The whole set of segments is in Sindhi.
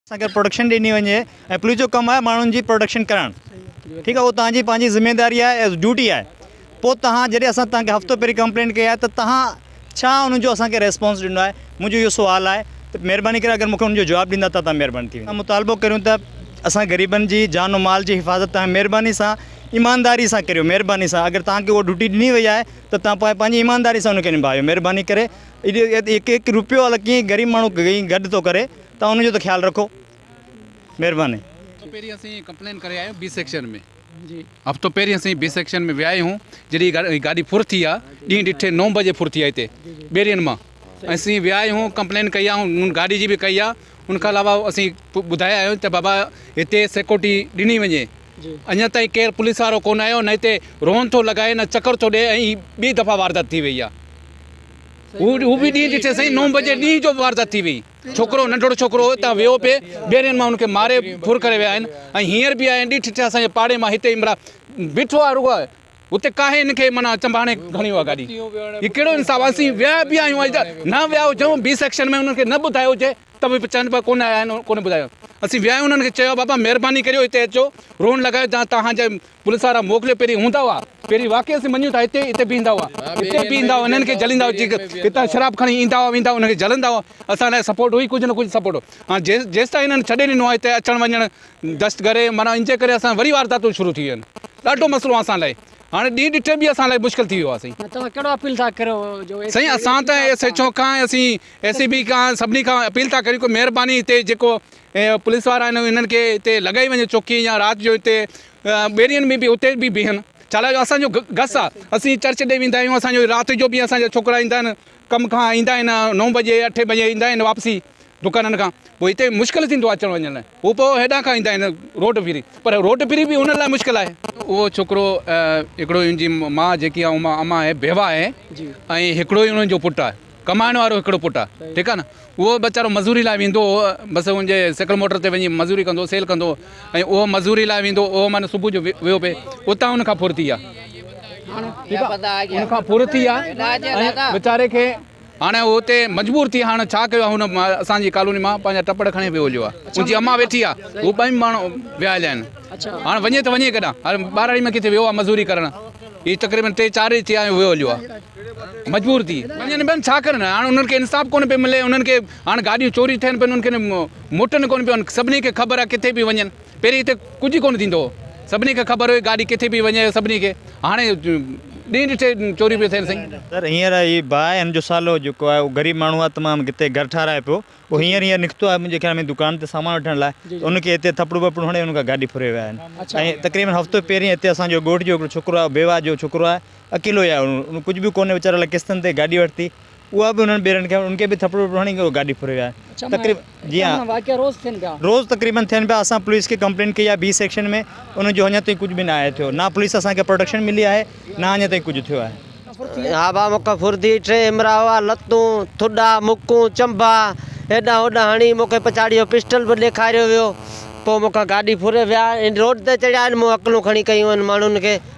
سان گڏ پروڊڪشن ڏني وڃي ۽ پوليس جو ڪم آهي ماڻهن جي پروڊڪشن ڪرڻ ٺيڪ آهي اهو تهان جي پنهنجي ذميداري آهي ايز ڊيوٽي آهي پوء تهان جڏهن اسان تهان کي هفتو پهرين ڪمپلينٽ ڪئي آهي ته تهان ڇا ان جو اسان کي ريسپانس ڏنو آهي منهنجو اهو سوال آهي ته مهرباني ڪري اگر مون کي ان جو جواب ڏيندا ته تهان مهرباني ٿي ويندي مطالبو ڪريون ته اسان غريبن جي جان و مال جي حفاظت تهان مهرباني سان ايمانداري سان ڪريو مهرباني سان اگر تهان کي اها ڊيوٽي ڏني وئي آهي ته تهان پوء پنهنجي ايمانداري سان ان کي نڀايو مهرباني ڪري هڪ هڪ روپيو الا ڪيئن غريب ماڻهو ڪئين گڏ ٿو ڪري تون ان جو ته خيال رکو مھرباني. ھفتو پهرين اسين ڪمپلين ڪري آيون بي سيڪشن ۾ ھفتو پهرين اسين بي سيڪشن ۾ ويا آھيون جڏھين ھي گاڏي ڦر ٿي آ ڏينھن ڏٺي نو بجي ڦر ٿي آ ھتي ٻيرين مان اسين ويا آھيون ڪمپلين ڪئي آ ھن گاڏي جي به ڪئي آ ان کان علاوه اسين ٻڌايا آھيون ته بابا ھتي سيڪورٽي ڏني وڃي اڃان تائين ڪير پوليس وارو ڪون آيو نه ھتي رون ٿو لڳائي نه چڪر ٿو ڏي ۽ ھي ٻي دفعا واردات ٿي وئي آ ھو به ڏينھن ڏٺي سائين نو بجي ڏينھن جو واردات ٿي وئي. ڇوڪرو ننڍڙو ڇوڪرو اتان ويو پئي ٻيرين مان ان کي ماري ڦر ڪري ويا آهن ۽ هينئر به آهن ڏٺ ڇا اسان جي پاڙي مان هتي عمرا بيٺو آهي رڳو آهي هتي ڪاهي ان کي معنيٰ چنباڻي کڻي ويو آهي گاڏي هي ڪهڙو انصاف آهي اسين ويا به آهيون اڄ نه ويا هجون بي سيڪشن ۾ انهن کي نه ٻڌايو هجي ته به چون پيا ڪونه آيا آهن ڪونه ٻڌايو اسين ويا آهيون انهن کي چيو بابا مهرباني ڪريو هتي اچو روڻ لڳايو جا توهان جا پوليس وارا موڪليو پهرين هوندا هئا پهرين واقعي اسين مڃيون ٿا هتي هتي بيهندا هئا هتي بيهندا هئا انهن کي جليندا هئا هتان شراب کڻي ايندا هئا ويندا هئا انهن کي جلندا هئا اسان لاء سپورٽ هئي ڪجهه نه ڪجهه سپورٽ هو هاڻ جيس جيستائين انهن ڇڏي ڏنو آهي هتي اچڻ وڃڻ دستگري معنيٰ ان جي ڪري اسان وري وارداتون شروع ٿي ويون آهن ڏاڍو مسئلو اسان لاء هاڻي ڏينهن ڏٺي به اسان لاء مشڪل ٿي ويو آهي سائين توهان ڪهڙو اپيل ٿا ڪريو جو سائين اسان ته ايس ايڇ او کان اسين اي سي بي کان سڀني کان اپيل ٿا ڪريون ڪو مهرباني هتي جيڪو پوليس وارا آهن انهن کي هتي لڳائي وڃي چوڪي يا رات جو هتي ٻيڙين ۾ به اتي به بيهن ڇالاء جو اسان جو گس آ اسين چرچ ڏي ويندا آهيون اسان جو رات جو به اسان جا ڇوڪرا ايندا آهن ڪم کان ايندا آهن نو بجي اٺ بجي ايندا آهن واپسي دڪانن کان پوء هتي مشڪل ٿيندو آهي اچڻ وڃڻ لاء هو پوء هيڏانهن کان ايندا آهن روڊ ڦري پر روڊ ڦري به انهن لاء مشڪل آهي اهو ڇوڪرو هڪڙو ان جي ماء جيڪي آهي اما آهي بيوا آهي ۽ هڪڙو ئي انهن جو پٽ آهي ڪمائڻ وارو هڪڙو پٽ آ ٺيڪ آ نه اهو ويچارو مزوري لاء ويندو هو بس ان جي سيڪل موٽر تي وڃي مزوري ڪندو سيل ڪندو ۽ اهو مزوري لاء ويندو اهو معنيٰ صبح جو ويو پي اتان ان کان ڦرتي آ ان کان ڦرتي آ ويچاري کي هاڻي اهو اتي مجبور ٿي هاڻي ڇا ڪيو هن اسان جي ڪالوني مان پنهنجا ٽپڙ کڻي ويو هليو آ ان جي اما ويٺي آ هو ٻئي ماڻهو ويا هليا آهن هاڻي وڃي ته وڃي ڪيڏانهن هاڻي ٻهراڙي ۾ ڪٿي ويو آ مزوري ڪرڻ هي تقريبن ٽي چار ڏينهن ٿيا آهن ويو هليو آ مجبور ٿي وڃن پيا ڇا ڪرن هاڻ انهن کي انصاف ڪونه پيو ملي انهن کي هاڻ گاڏيون چوري ٿين پيون انهن کي موٽن ڪونه پيون سڀني کي خبر آهي ڪٿي پيو وڃن پهرين هتي ڪجهه ئي ڪونه ٿيندو هو سڀني کي خبر هئي گاڏي ڪٿي پيو وڃي سڀني کي هاڻي ڏينهن ڏٺي چوري پيو ٿين سائين سر هينئر هي باهه هن جو سالو جيڪو آهي اهو غريب ماڻهو آهي تمام ڪٿي گهر ٺاهرائي پيو اهو هينئر هينئر نڪتو آهي منهنجي خيال ۾ دڪان تي سامان وٺڻ لاء ته ان کي هتي ٿپڙو وپڙو هڻي ان کان گاڏي ڦري ويا آهن ۽ تقريبن هفتو پهرين هتي اسان جو ڳوٺ جو هڪڙو ڇوڪرو آهي بيواهه جو ڇوڪرو آهي اڪيلو ئي آهي ان ڪجهه به ڪونهي ويچاري لاء قسطن تي گاڏي ورتي اها به انهن ٻيرن کي ان کي به ٿڦڙو وڦڙو هڻي گاڏي ڦري ويا آهن روز تقريبن ٿين پيا اسان پوليس کي ڪمپلينٽ ڪئي آهي بي سيڪشن ۾ ان جو اڃا تائين ڪجهه به ناهي ٿيو نه پوليس اسان کي پروٽيڪشن ملي آهي نه اڃا تائين ڪجهه ٿيو آهي هابا مون کي ڦرندي ٽي امرا هئا لتون ٿڏا مڪون چنبا هيڏانهن هوڏانهن هڻي مون کي پڇاڙي اهو پسٽل به ڏيکاريو ويو پوء مون کان گاڏي ڦري ويا آهن روڊ تي چڙهيا آهن مون اڪلون کڻي ڪيون آهن ماڻهن کي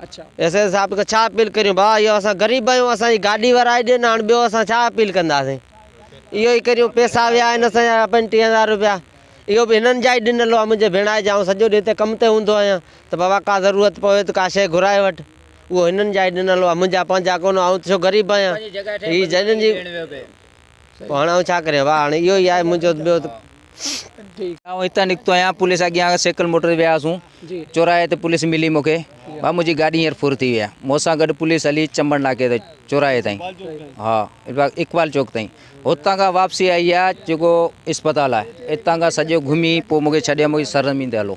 ايس ايس صاحب کي ڇا اپيل ڪريون ڀاء اهو اسان غريب آهيون اسان جي گاڏي ورائي ڏين هاڻ ٻيو اسان ڇا اپيل ڪنداسين اهو ئي ڪريون پيسا ويا آهن اسان جا پنجٽيهه هزار روپيا اهو به هنن جا ئي ڏنل هئا منهنجي ڀيڻائي جا آئون سڄو ڏينهن هتي ڪم تي هوندو آهيان ته بابا ڪا ضرورت پوي ته ڪا شيء گهرائي وٺ اهو هنن جا ئي ڏنل هئا منهنجا پنهنجا ڪونه آئون ته ڇو غريب آهيان هي جنن جي پوء هاڻ آئون ڇا ڪريان؟ واهه! هاڻ اهو ئي آهي منهنجو ٻيو ته. آئون هتان نڪتو آهيان، پوليس اڳيان سيڪل موٽر تي ويا هئاسون، چوراهي تي پوليس ملي مون کي، ڀاء منهنجي گاڏي هينئر ڦر ٿي وئي آهي، مون سان گڏ پوليس هلي چمن ناڪي تائين، چوراهي تائين، ها اقبال چوڪ تائين، هتان کان واپسي آئي آهي جيڪو اسپتال آهي، اتان کان سڄو گهمي پوء مون کي ڇڏي مون کي سرزمين تي هلو.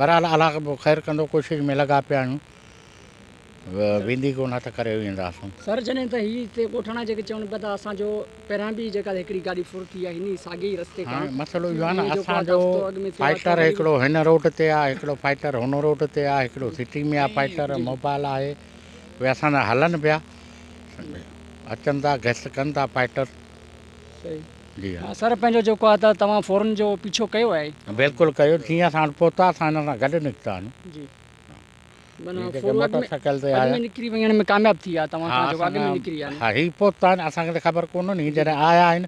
بھرحال الله خير ڪندو ڪوشش ۾ لڳا پيا آھيون ويندي ڪونه ته ڪري وينداسون. سر جڏھن ته ھي ھتي ڳوٺاڻا جيڪي چون پيا ته اسان جو پھريان به جيڪا ھڪڙي گاڏي ڦر ٿي آھي ھن ساڳئي ئي رستي کان ھاڻي مسئلو اھو آھي نه اسان جو فائٽر ھڪڙو ھن روڊ تي آھي ھڪڙو فائٽر ھن روڊ تي آھي ھڪڙو سٽي ۾ آھي فائٽر موبائل آھي اھي اسان جا ھلن پيا اچن ٿا گشت ڪن ٿا فائٽر. جي ها. سر پنهنجو جيڪو آهي ته توهان فورن جو پيڇو ڪيو آهي. بلڪل ڪيو جيئن اسان وٽ پهتا اسان هن سان گڏ نڪتا آهن. جي معنيٰ فور ورڊ ۾ اڳ ۾ نڪري وڃڻ ۾ ڪامياب ٿي ويا توهان کان جيڪو اڳ ۾ نڪري ويا. ها هي پهتا آهن اسان کي ته خبر ڪونه هئي جڏهن آيا آهن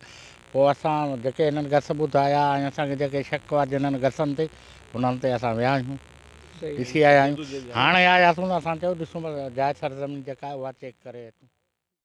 پوء اسان جيڪي هنن گس ٻڌايا ۽ اسان کي جيڪي شڪ هئا جنن گسن تي انهن تي اسان ويا آهيون ڏسي آيا آهيون هاڻي آياسون ته اسان چيو ڏسون ته جاء سرزمين جيڪا آهي اها چيڪ ڪري اچون.